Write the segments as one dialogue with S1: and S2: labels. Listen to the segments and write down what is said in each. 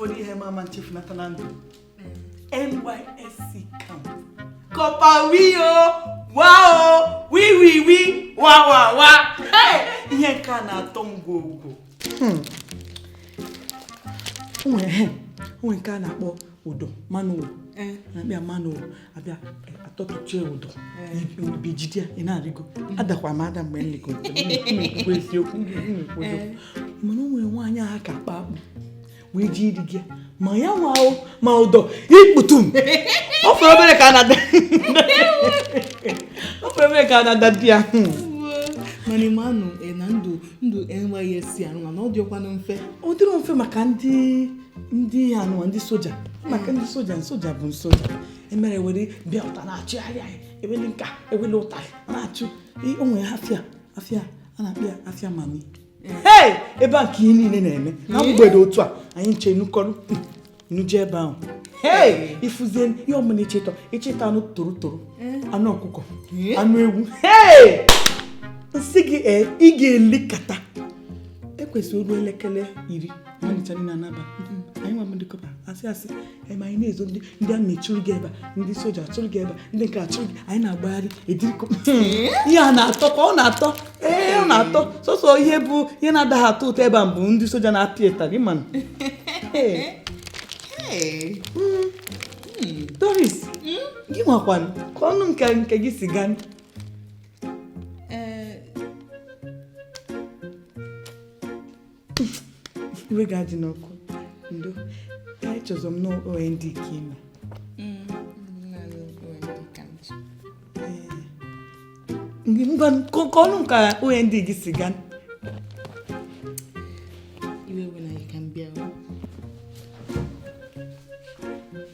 S1: ụfọdụ ihe ma ama nchefunata na ndụ NYSC camp corper wio wao wiwiwi wawawa ihe nke a na-atọ m gwogwo o nwere ihe o nwere nke a na-akpọ ụdọ Man O' War na-abịa Man O' War abịa atọtụchie ụdọ ọ bụ i jide ya ị na-arịgo adakwa m ada mgbe m lịgo na-ekwu eziokwu na-ekwu eziokwu mana o nwere nwaanyị ha ka akpa akpụ wee je ịrịgo ya ma ya nwa o ma ụdọ ikputum ọ fọrọ obere ka a na-ada ọ fọrọ obere ka a na-ada di ya
S2: mana ị manụ na ndụ ndụ NYSC anụ mana ọ dịkwanụ mfe ọ dịrọ mfe maka
S1: ndị ndị a nụwa ndị soja maka ndị soja soja bụ soja emere were bịa ụta na-achụgharị anyị ewele nka ewele ụta na-achụ o nwe afịa afịa a na-akpọ ya afịa mami ee ebe a ka ihe niile na-eme na mgbede otu a anyị ncha nukọrọ nuje ebe ahụ ee ị fụzie ihe ọbụna ịchịtọ ị chịta anụ torotoro anụ ọkụkọ anụ ewu ee m sị gị ee ị ga-elikata kwụsị o ruo elekere iri anyị ncha niile anaba anyị nwa bụ ndị corper asị asị anyị ma anyị na-ezo ndị ndị army chụrụ gị ebe a ndị soja chụrụ gị ebe a ndị nke a chụrụ gị anyị na-agbagharị ediri kọpa ihe a na-atọ ka ọ na-atọ ee ọ na-atọ sọsọ ihe bụ ihe na-adaghị atọ ụtọ ebe a bụ ndị soja na-apịa ịtarị mana Doris gị nwakwanụ kọọnụ nke nke gị si gaa iwe gị adịna ọkụ ndo kwa echezọ m na OND ka i me ngwa kọọnụ ka OND gị si gaa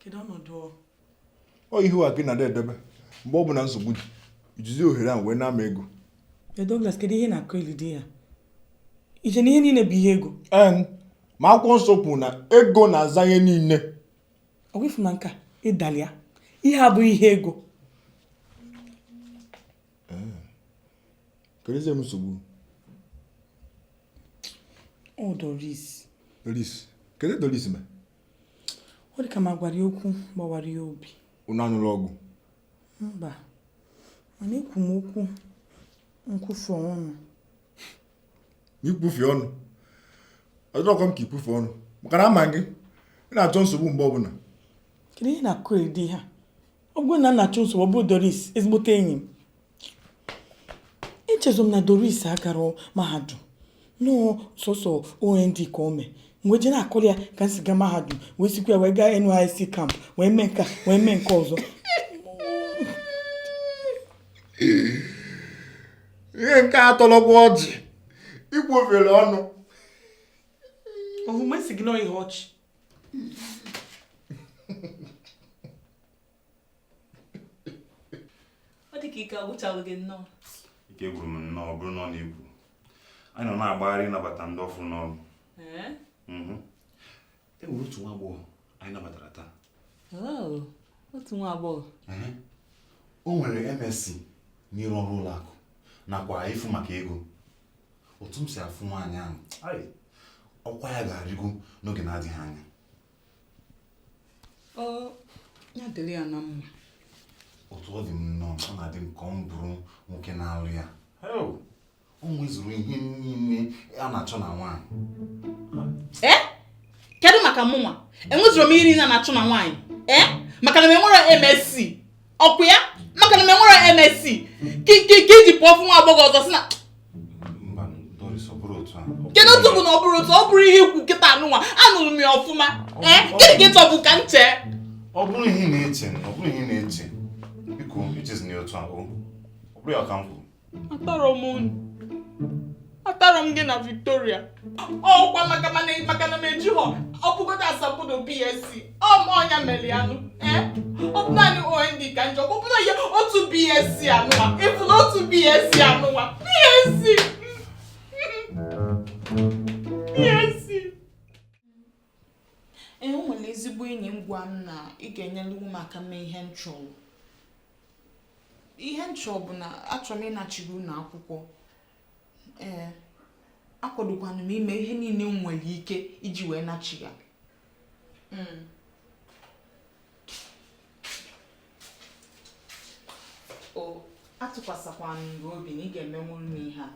S3: kedu ọnọdụ ọ ihu a gị na-adị edebe mgbe ọ bụla nsogbu dị i jizi ohere ahụ wee na-ana m ego Ee, Douglas kedu
S1: ihe ị na-akọ Lydia i che na ihe niile bụ ihe ego en
S3: ma akwụkwọ nsọ kwuru na ego na-aza ihe niile ọ bụ ifu
S1: na nka ịdalịa ihe a bụ ihe ego
S3: Kedụzị
S1: nsogbu. Ọ Doris. Doris.
S3: Kedu ihe Doris me? Ọ
S1: dị ka m agwara ya okwu gbawara ya obi. Unu anụrụ ọgụ?
S3: Mba.
S1: Mana ekwu m okwu nkwufe ọnụ.
S3: Ikwufe ọnụ? Ọ dịrọkwa m ka ikwufe ọnụ. Maka na ama m gị. Ị na-achọ nsogbu mgbe ọbụla. Kedu ihe
S1: ị na-akọrị dị ihe a? ọ bụrụ na m na-achọ nsogbu ọ bụrụ doris ezigbote enyi m echezo m na doris agarọ mahadum na ọ sọsọ ond ka o mee m wee jee na-akọrọ ya ka m si gaa mahadum wee sikwa ya wee gaa nysc camp wee mee nke a wee mee nke
S3: ọzọ ihe nke a tọlọkwa ọchị i kwufere ọnụ
S1: ọ bụ m sị gị na ọ ihe ọchị
S2: ọ dị ka ike agwụchago gị nnọọ ike gwụrụ m
S4: nnọọ ọ bụrụ na ọ na-ekwu anyị nọ na-agbagharị ịnabata ndị ọfụ n'ọrụ Ee? Mhm. e nwere otu nwa agbọghọ anyị nabatara taa
S2: Oh, otu nwa agbọghọ Ehe.
S4: o nwere msc n'ịrụ ọrụ ụlọ akụ nakwa ịfụ maka ego otu m si afụ nwaanyị ahụ ai, ọkwa ya ga-arịgo n'oge na-adịghị
S2: anya ọ ya dịrị ya na mma otu
S4: ọ dị m nnọọ ọ na-adị m ka m bụrụ nwoke na-alụ ya heo, o nwezuru ihe niile a na-achọ na nwaanyị ee
S2: kedu maka mụnwa enwezurọ m ihe niile a na-achọ na nwaanyị ee maka na m enwerọ msc ọkwa ya maka na m enwerọ msc ka i ji pụọ fụ nwa agbọghọ ọzọ sị
S4: na kedu otu bụ na ọ bụrọ otu
S2: ọ bụrọ ihe i kwu kịta anụnwa anụrụ m ya ọfụma ee gịnị ka ị chọbu ka m chee ọ bụrọ
S4: ihe ị na-eche ọ bụrọ ihe ị na-eche biko echezina ya otu ahụ ọ bụrọ ya ka m kwuru atọrọ m
S2: unu atọrọ m gị na Victoria ọkwa maka mana maka na m ejirọ ọ bụgodo asambodo BSc ọ ma ọ nya mere ya nụ ee ọ bụ naanị OND ka m ji ọ bụrụ ya otu BSc anụwa ị fụ na otu BSc anụwa BSc BSc ee o nwere ezigbo enyi m gwa m na ị ga-enyeliwu m aka mee ihe m chọrọ ihe m chọrọ bụ na achọrọ m ịnachiri ụnọ akwụkwọ ee akwadokwana m ime ihe niile m nwere ike iji wee nachi ya hmm. o atụkwasịkwanụ m gị obi na ị ga-emenwuru m ihe a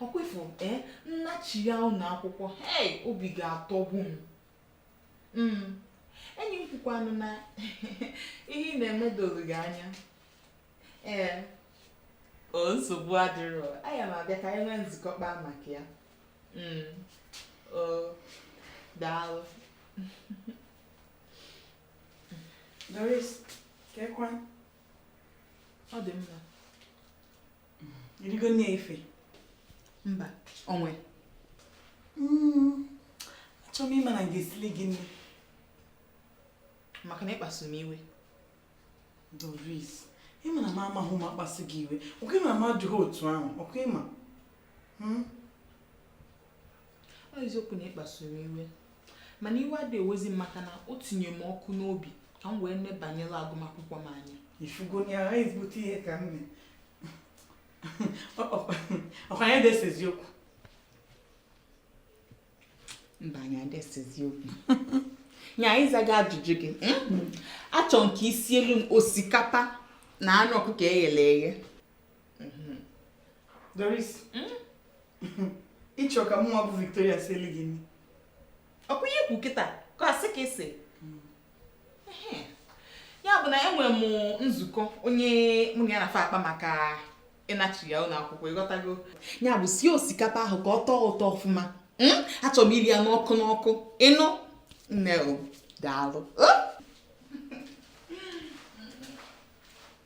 S2: ọkwa ị fụ ee eh, m nachi ya ụlọ akwụkwọ hei obi ga-atọgbu m mm. enyi m kwukwanụ na ihe ị na-eme doro gị anya ee eh, o nsogbu adịrọ aya m abịa ka anyị nwee nzukọ kpaa maka ya mm. o daalụ
S1: Doris,
S2: kekwa. Ọ dị mma.
S1: Irigo nne ife. Mba,
S2: onwe. Mm.
S1: Achọrọ m ịma na m ga-esili gị nni.
S2: Maka na ịkpasu m
S1: iwe. Doris, ịma na m amahụ ụma kpasu gị iwe. Ọkwa ịma na m adịghị otu ahụ. Ọkwa ịma. Hmm?
S2: Ọ eziokwu na ịkpasu m iwe. mana iwe adịghị ewezi m maka na o tinye m ọkụ n'obi ka m wee nebanyere agụmakwụkwọ m anya ifugo ya aha
S1: ezigbote ihe ka m mee ọkwa anyị adịghị esezi
S2: okwu mba anyị adịghị esezi okwu nya ka m zaa gị ajụjụ gị hmm? achọrọ m ka i sielu m osikapa na anụ ọkụkọ eghere eghe
S1: mhm. Doris hmm? ịchọ ka mụnwa bụ Victoria sielu gị nri ọkwa ihe
S2: i kwu kịta ka asị ka esi hmm. ya bụ na enwere m nzukọ onye mụ na ya na-afa akpa maka ịnachi ya ụlọ akwụkwọ ịghọtago ya bụ sie osikapa ahụ ka ọ tọọ ụtọ ọfụma hmm? achọrọ m iri ya n'ọkụ n'ọkụ ịnụ nne daalụ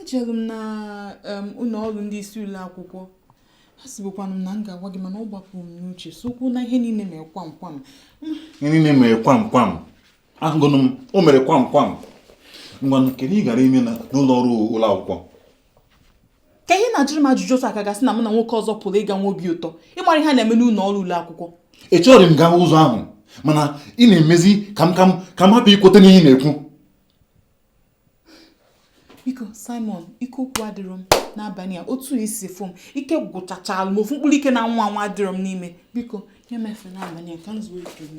S2: ejelu m na ụlọ ọrụ ndị isi ụlọ akwụkwọ asịbukwanụ m na m ga-agwa gị mana ọ gbapụrụ m n'uche sokwu na ihe niile mere kwam kwam ihe niile
S4: mere kwam kwam ahụgonụ m o mere kwam kwam ngwanụ kedu ihe ị gara ime n'ụlọ ọrụ ụlọ
S2: akwụkwọ kee ihe ị na-ajụrụ m ajụjụ otu a ka a ga-asị na mụ na nwoke ọzọ pụrụ ịga nwee obi ụtọ ịmara ihe a na-eme n'ụlọ ọrụ ụlọ akwụkwọ echerọ m gawa
S4: ụzọ ahụ mana ị na-emezi ka m ka m ka m hapụ ikweta n'ihe ị na-ekwu
S2: biko simon ike okwu adịrọ m n'abalị a otu i si fụ m ike gwụchachalụ m ofu mkpụrụ ike na nwa nwa adịrọ m n'ime biko nye m efe n'abalị a ka m zuo ike m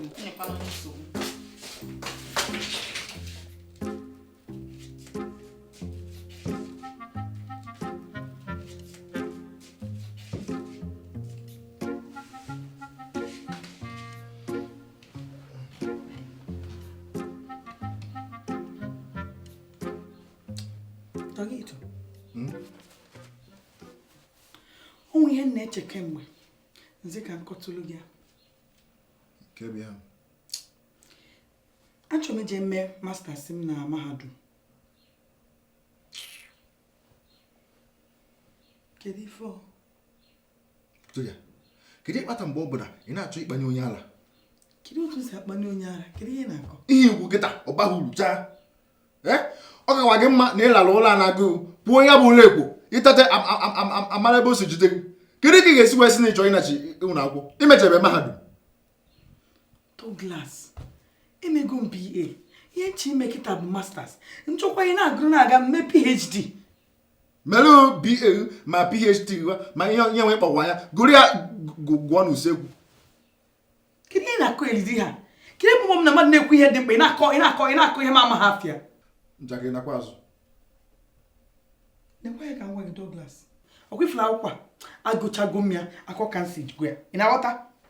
S1: Douglas, hmm? o nwe ihe m na-eche kemgbe m sị ka m kọtụlụ gị ya achọrọ m ije mee masters m na mahadum kedu ife so
S3: ya kedu ihe kpata mgbe ọ bụla ị na-achọ ịkpanye onye ala kedu otu
S1: si akpanye onye ala kedu ihe ị na-akọ ihe i kwu kịta ọ
S3: baghị uru chaa ee ọ kakwa gị mma na ị larụ ụla na-agụ pụọ ya bụ ụla ekwo ị teta amara ebe o si jide gị kedu ka ị ga-esi wee sị na ị chọ ịnachi ụlọ akwụkwọ i mechabe mahadum Douglas
S1: emego m BA ihe m chọ ime kịta bụ masters m chọkwa ịna-agụrụ na-aga m mee PhD
S3: mere BA ma PhD gwa ma ihe onye nwe kpọkwa ya gụrụ ya gụ- gụọ n'usekwu
S1: kedu ihe ị na-akọ elidi ha kedu ebe m na mmadụ na-ekwu ihe dị mkpa ị na-akọ ihe m amaghị afa ya njakịrị
S3: nakwa
S1: azụ nekwa ya ka m gwa gị Douglas ọ kwa ị fụrụ akwụkwọ a agụchago m ya akọ ka m si gwa ya ị na-aghọta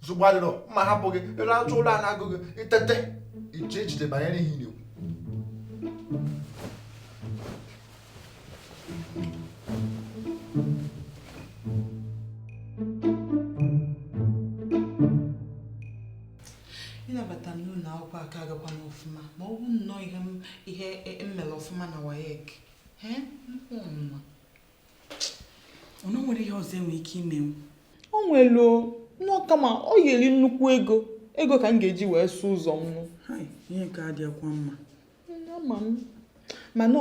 S3: nsogbu adịrọ m ga-ahapụ gị ị larụtụ ụla na-agụ gị i teta i chee echiche banyere ihe ị
S2: na-ekwu ịnabata m n'ụlọ akwụkwọ aka agakwa m ọfụma ma ọ bụ na ọ ihe m e, e mere ọfụma na WAEC
S1: o nwere ihe ọzọ e nwere ike ime o
S2: nwere nnọọ kama ọ ya-eri nnukwu ego ego ka m ga-eji wee sụọ ụzọ m ihe nke
S1: a adịghịkwa mma ama m
S2: mana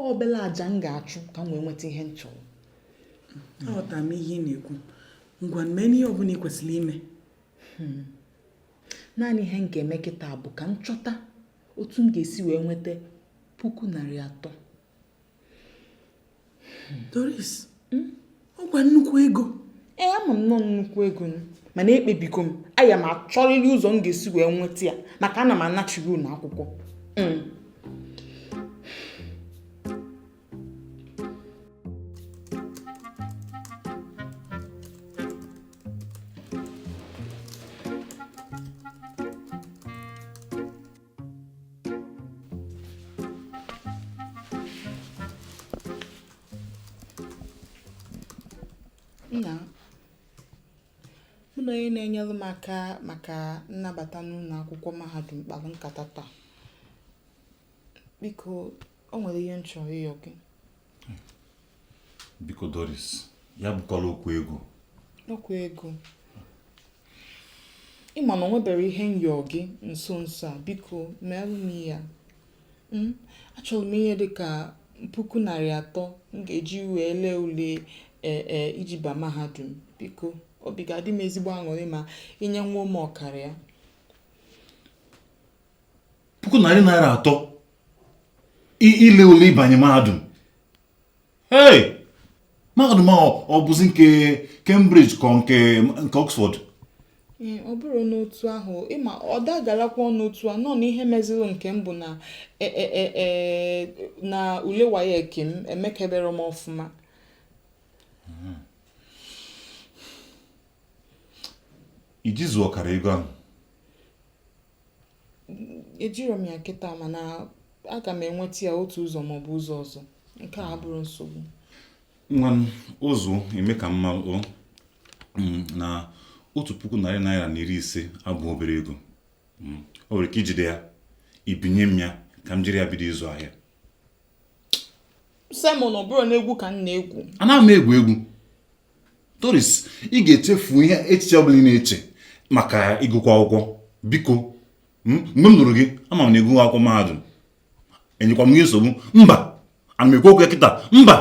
S2: obele aja m ga-achụ ka m wee nweta ihe m chọrọ
S1: aghọtara m ihe ị na-ekwu ngwa meenụ ihe ọ bụla ị kwesịrị ime
S2: hmm. naanị ihe m ga-eme kịta bụ ka m chọta otu m ga-esi wee nweta puku narị atọ
S1: Doris hmm? ọ kwa nnukwu ego ee ama m na
S2: ọ nnukwu ego mana ekpebigo m aya m achọrịrị ụzọ m ga-esi wee nweta ya maka ana m anachiri ụnọ akwụkwọ hmm. Nna mụ na onye na-enyere m aka maka nnabata n'ụlọ akwụkwọ mahadum kpara nkata taa. Biko, o nwere ihe m chọrọ ịyọ gị.
S4: biko Doris ya bụkwala okwu ego okwu
S2: ego ịma na onwebere ihe m yọ gị nso nso a biko meelụ m ya hmm? achọrọ m ihe dị ka puku narị atọ m ga-eji wee lee ule e, e, iji ba mahadum biko obi ga-adị m ezigbo aṅụrị ma inyenwuo m ọkara ya
S4: puku narị naira atọ ile ule ịbanye mahadum hey mahadum ahụ ọ bụzi nke Cambridge ka nke Oxford ọ
S2: bụrọ n'otu ahụ ịma ọ dagalakwa ọnụ otu a nọ n'ihe meziri nke m bụ na e, e, e, na ule WAEC m emekebere m ọfụma
S4: hmm. iji zuo ọkara ego ahụ
S2: ejiro m ya kịta mana aga m enweta ya otu ụzọ maọbụ ụzọ ọzọ nke a abụrọ nsogbu nwa m
S4: ụzụ eme ka m ma o mm, na otu puku narị naira na iri ise abụ obere ego mm, o nwere ike ijide ya ibinye m ya ka m jiri ya bido ịzụ ahịa
S2: sị m na ọ bụrụ na egwu ka m na-egwu anaghị m egwu egwu
S4: Doris ị ga-echefu ihe echiche ọbụla ị na-eche maka ịgụkwa akwụkwọ biko hmm, mgbe m lụrụ gị ama m na ịgụghị akwụkwọ mahadum enyekwa m gị nsogbu mba ana m ekwu okwu ya kịta
S2: mba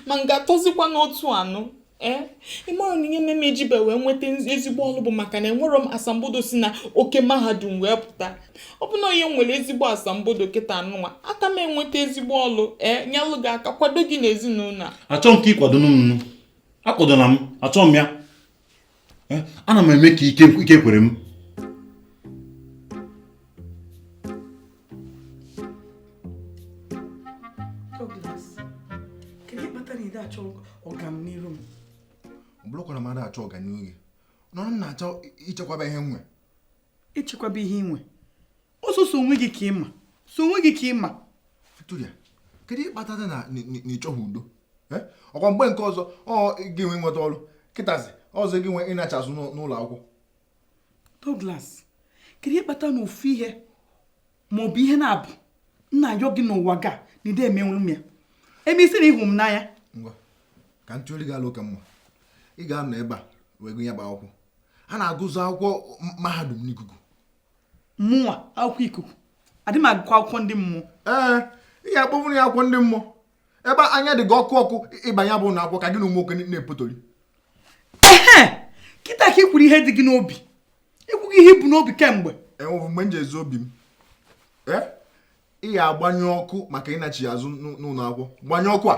S2: ma m ga-atọzikwa n'otu anụ ee eh? ịmaro na ihe mere m ejibe wee nweta ezigbo ọlụ bụ maka na enwero m asambodo si na oke mahadum wee pụta ọ bụ na onye nwere ezigbo asambodo kịta anụnwa aka m enweta ezigbo ọlụ ee eh, nyelụ gị aka kwado gị n'ezinụlọ a achọghị m ka ịkwado m
S4: nụ akwadona m achọghị m ya eh, ana m eme ka ike kwere m
S1: bụrụkwana
S3: mmadụ achọ ọganihu gị nọrọ m na-achọ ichekwaba ihe inwe
S1: ichekwaba ihe inwe ọ sọsọ onwe gị ka ịma sọ onwe gị ka ịma Victoria
S3: kedu ihe kpatara na na- na- na ịchọghị udo Eh? ọkwa mgbe nke ọzọ ọ gị nwe inweta ọlụ kịtazi ọzọ gị nwe ịnachi azụ n'ụ- n'ụlọ
S1: akwụkwọ Douglas kedu ihe kpatara na ofu ihe ma ọ bụ ihe naabọ m na-ayọ gị n'ụwa ga na ịda emenwuru m ya ebe ịsị na ịhụ m n'anya ngwa
S3: ka m tụọrọ gị alo ka mma ị ga-anọ ebe a wee gụ ya bụ akwụkwọ a na-agụzi akwụkwọ mahadum n'ikuku
S1: mụnwa akwụkwọ ikuku adị m agụkọ akwụkwọ ndị mmụọ ee ị
S3: ga-akpọnwụrụ ya akwụkwọ ndị mmụọ ebe anya dị gị ọkụ ọkụ ịba ya bụ ụlọ akwụkwọ ka gị na ụmụ nwoke na-epotori ehe
S1: kịta ka ị kwuru ihe dị gị n'obi ikwughị ihe i bu n'obi kemgbe e nwebu mgbe m ji
S3: ezo obi m eh? ị ya agbanyụ ọkụ maka ịnachi azụ n'ụlọ akwụkwọ gbanyụ ọkụ a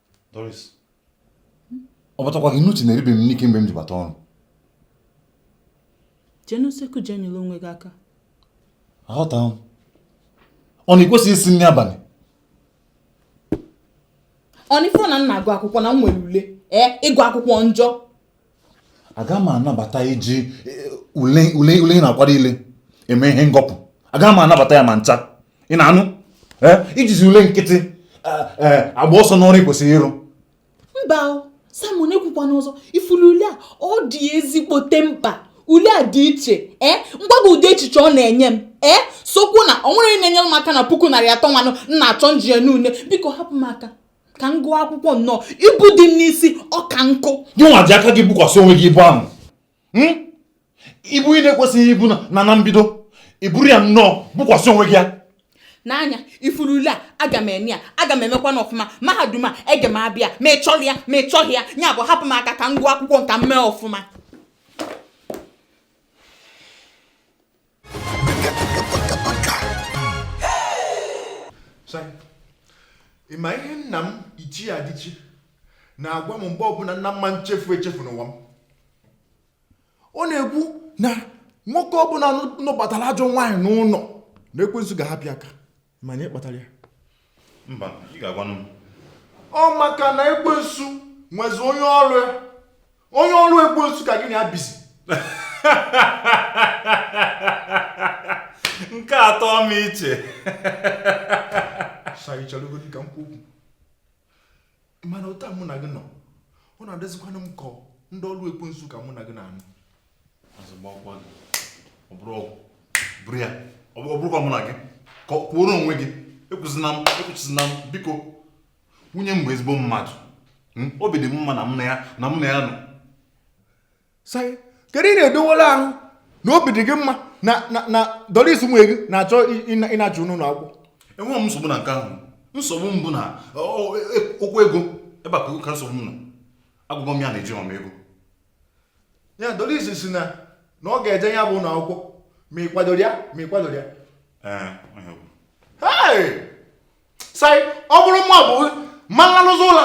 S4: Doris ọ batakwara gị n'uche na eribeghị m nri kemgbe m ji bata
S2: ọrụ jee n'usekwu jee nyere onwe gị aka
S4: aghọtaghị m ọ na i kwesịghị isi nri
S2: abalị ọ na ị fọ na m na-agụ akwụkwọ na m nwere ule ee ịgụ akwụkwọ njọ
S4: aga m anabata iji eh, ule ule ule ị na-akwado ile eme ihe ngọpụ aga m anabata ya ma ncha ị na-anụ Eh, ijizi ule nkịtị eh, eh, agba ọsọ n'ọrụ ị kwesịrị ịrụ mba o
S2: Simon ekwukwana ọzọ ị fụrụ ule a ọ dị ezigbote mkpa ule a dị iche ee m gwa gị ụdị echiche ọ na-enye m ee sokwu na o nwere onye na-enyere m aka na puku narị atọ nwanụ m na-achọ m ji ele ule biko hapụ m aka ka m gụọ akwụkwọ nnọọ ibu dị m n'isi ọ ka nkụ gị nwa ji aka gị
S4: bukwasị onwe gị ibu ahụ hmm? ibu ị na-ekwesịghị ibu na na mbido i buru ya nnọọ bukwasị onwe gị ya nee
S2: anya ị fụrụ ule a aga m eme ya aga m emekwanụ ọfụma mahadum a ege m abịa ma ị chọrọ ya ma ị chọghị ya ya bụ hapụ m aka ka m gụọ akwụkwọ nka m mee ọfụma
S3: ị ma ihe nna m Ichie Adichie na-agwa m mgbe ọbụla na m ma nchefu echefu n'ụwa m ọ na-ekwu na nwoke ọbụla nụbatara ajọ nwaanyị n'ụlọ na ekwensu ga-ahapụ ya aka ma ihe kpatara ya
S4: mba ị ga-agwanụ m ọ
S3: maka na ekwensu nwezi onye ọrụ ya onye ọrụ ekwensu ka gị na ya bizi
S4: nke atọ m iche
S3: Sai cherugodi ka m kwuo okwu mana otu a mụ na gị nọ ọ na-adịzikwanụ m ka ndị ọrụ ekwensu ka mụ na gị na-anụ bụrụ
S4: ya ọ bụrọkwa mụ na gị kwuoro onwe gị ekwuzina m ekwuzina m biko nwunye m bụ ezigbo mmadụ hmm? obi dị m mma na m na ya na m na ya nọ
S3: kedu ị na-edowere ahụ na obi dị gị mma na na na Doris nwunye gị na-achọ ịnachi n'ụlọ akwụkwọ enweghị m nsogbu na
S4: nke ahụ nsogbu m bụ na e, okwu ego ebe a ka nsogbu m nọ agwago m ya na ejirọ m
S3: ego ya Doris si na na ọ ga-eje ya bụ ụlọ akwụkwọ ma ị kwadoro ya ma ị kwadorọ ya sai ọ bụrụ mụ abụ ma nlalụzi ụla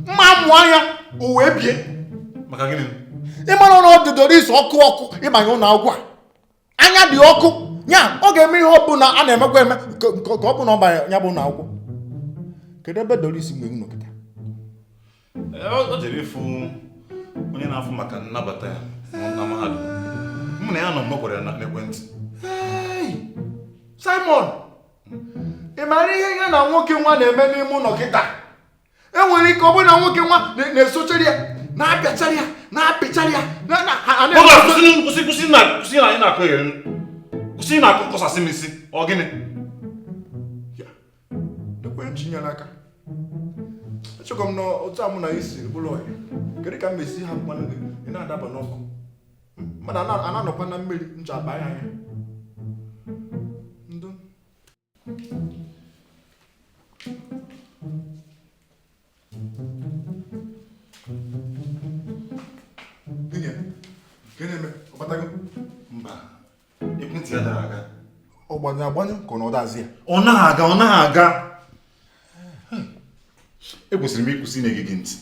S3: mma mụọ anya o wee bie maka gịnị
S4: ịmara na ọ
S3: na-adị doris ọkụ ọkụ ịbanye ụlọ akwụkwọ a anya dị ọkụ ya ọ ga-eme ihe ọbụla a na-emekwa eme ka ọ bụ na ọ banye ya bụ ụlọ akwụkwọ kedu ebe doris nwa ahụ nọ kịta
S4: o jere ịfụ onye na-afụ maka nnabata ya na mahadum mụ na ya nọ mgbe a gwara ya
S3: n'ekwentị Simon ị maara ihe ya na nwoke nwa na-eme n'ime ụlọ kịta enwere ike ọ bụrụ na nwoke nwa na-esochara ya na-apịachara ya na-apịchara
S4: ya kwụsị kwụsị na anyị na-akọ ya kwụsị na-akọ kọsasị m isi ọ gịnị
S3: ekwere m chinyere aka echekwa m na otu a mụ na gị si bụrụ ọyị kedu ka m mesi haa nụ gị ị na-adaba n'ọkụ mmadụ a na-anọkwa na mmiri ncha abaa ya anya
S4: Nwunye, ka na-eme ọ batago? Mba, ekwentị ya adaghị aga. Ọ gbanyụ
S3: agbanyụ ka ọ na ọ dazi ya. Ọ naghị aga, ọ naghị
S4: aga. Ekwesịrị m ịkwụsị ịna-ege gị ntị.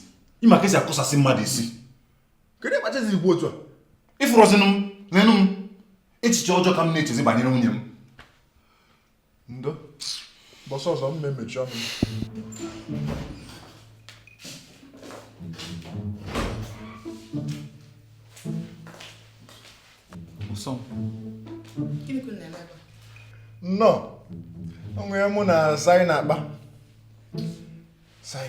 S4: Ị ma ka esi akụsasị mmadụ isi. Kedu ihe
S3: kpatazi ikwu otu a? Ịfụrọzinụ m,
S4: nenụ m. Echiche ọjọọ ka m na-echezi banyere nwunye m.
S3: ndo ụbọsị ọzọ m ma-emechi ọnụ nnọọ o nwee ihe mụ na sai na-akpa sai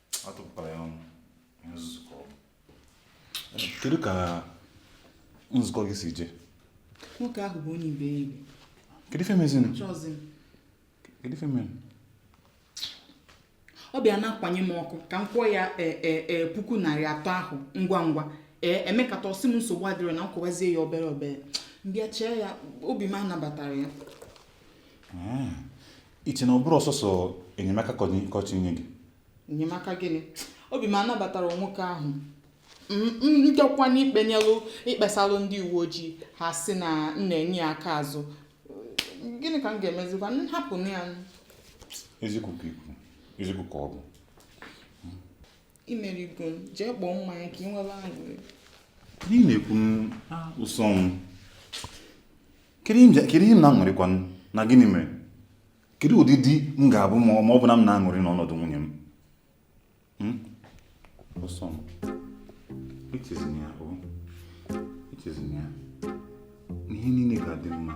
S4: atụpụkwara ya ọnụ ihe nzuzu ka ọ bụ kedu ka nzukọ gị si je nwoke ahụ
S2: bụ onye iberibe kedu ife
S4: mezinụ chọzi m
S2: kedu
S4: ife
S2: menụ ọ bịa na-akwanye m ọkụ ka m kwụọ ya e, e, e, puku narị atọ ahụ ngwa ngwa ee e mekata ọ sị m nsogbu adịrọ na m kwụwazie ya obere obere m bịa chee ya obi m anabatarọ ya
S4: i che na ọ bụrọ sọsọ enyemaka ka ọ chọ inye gị enyemaka
S2: gịnị obi m anabatarọ nwoke ahụ m chekwa na ikpenyelụ ikpesalụ ndị uwe ojii ha sị na m na-enye ya aka azụ gịnị ka m ga-emezikwa m hapụ ya eziokwu ka i
S4: kwu eziokwu ka ọ
S2: bụ i merigo m jee kpọọ mmanya ka ị nwee aṅụrị n'ihi
S4: na-ekwu m ụsọ m kedu ihe m na-aṅụrịkwa na gịnị mere kedu ụdị di m ga-abụ ma ọ bụ na m na-aṅụrị n'ọnọdụ nwunye m ụsọ m echezina ya ihe niile ga-adị mma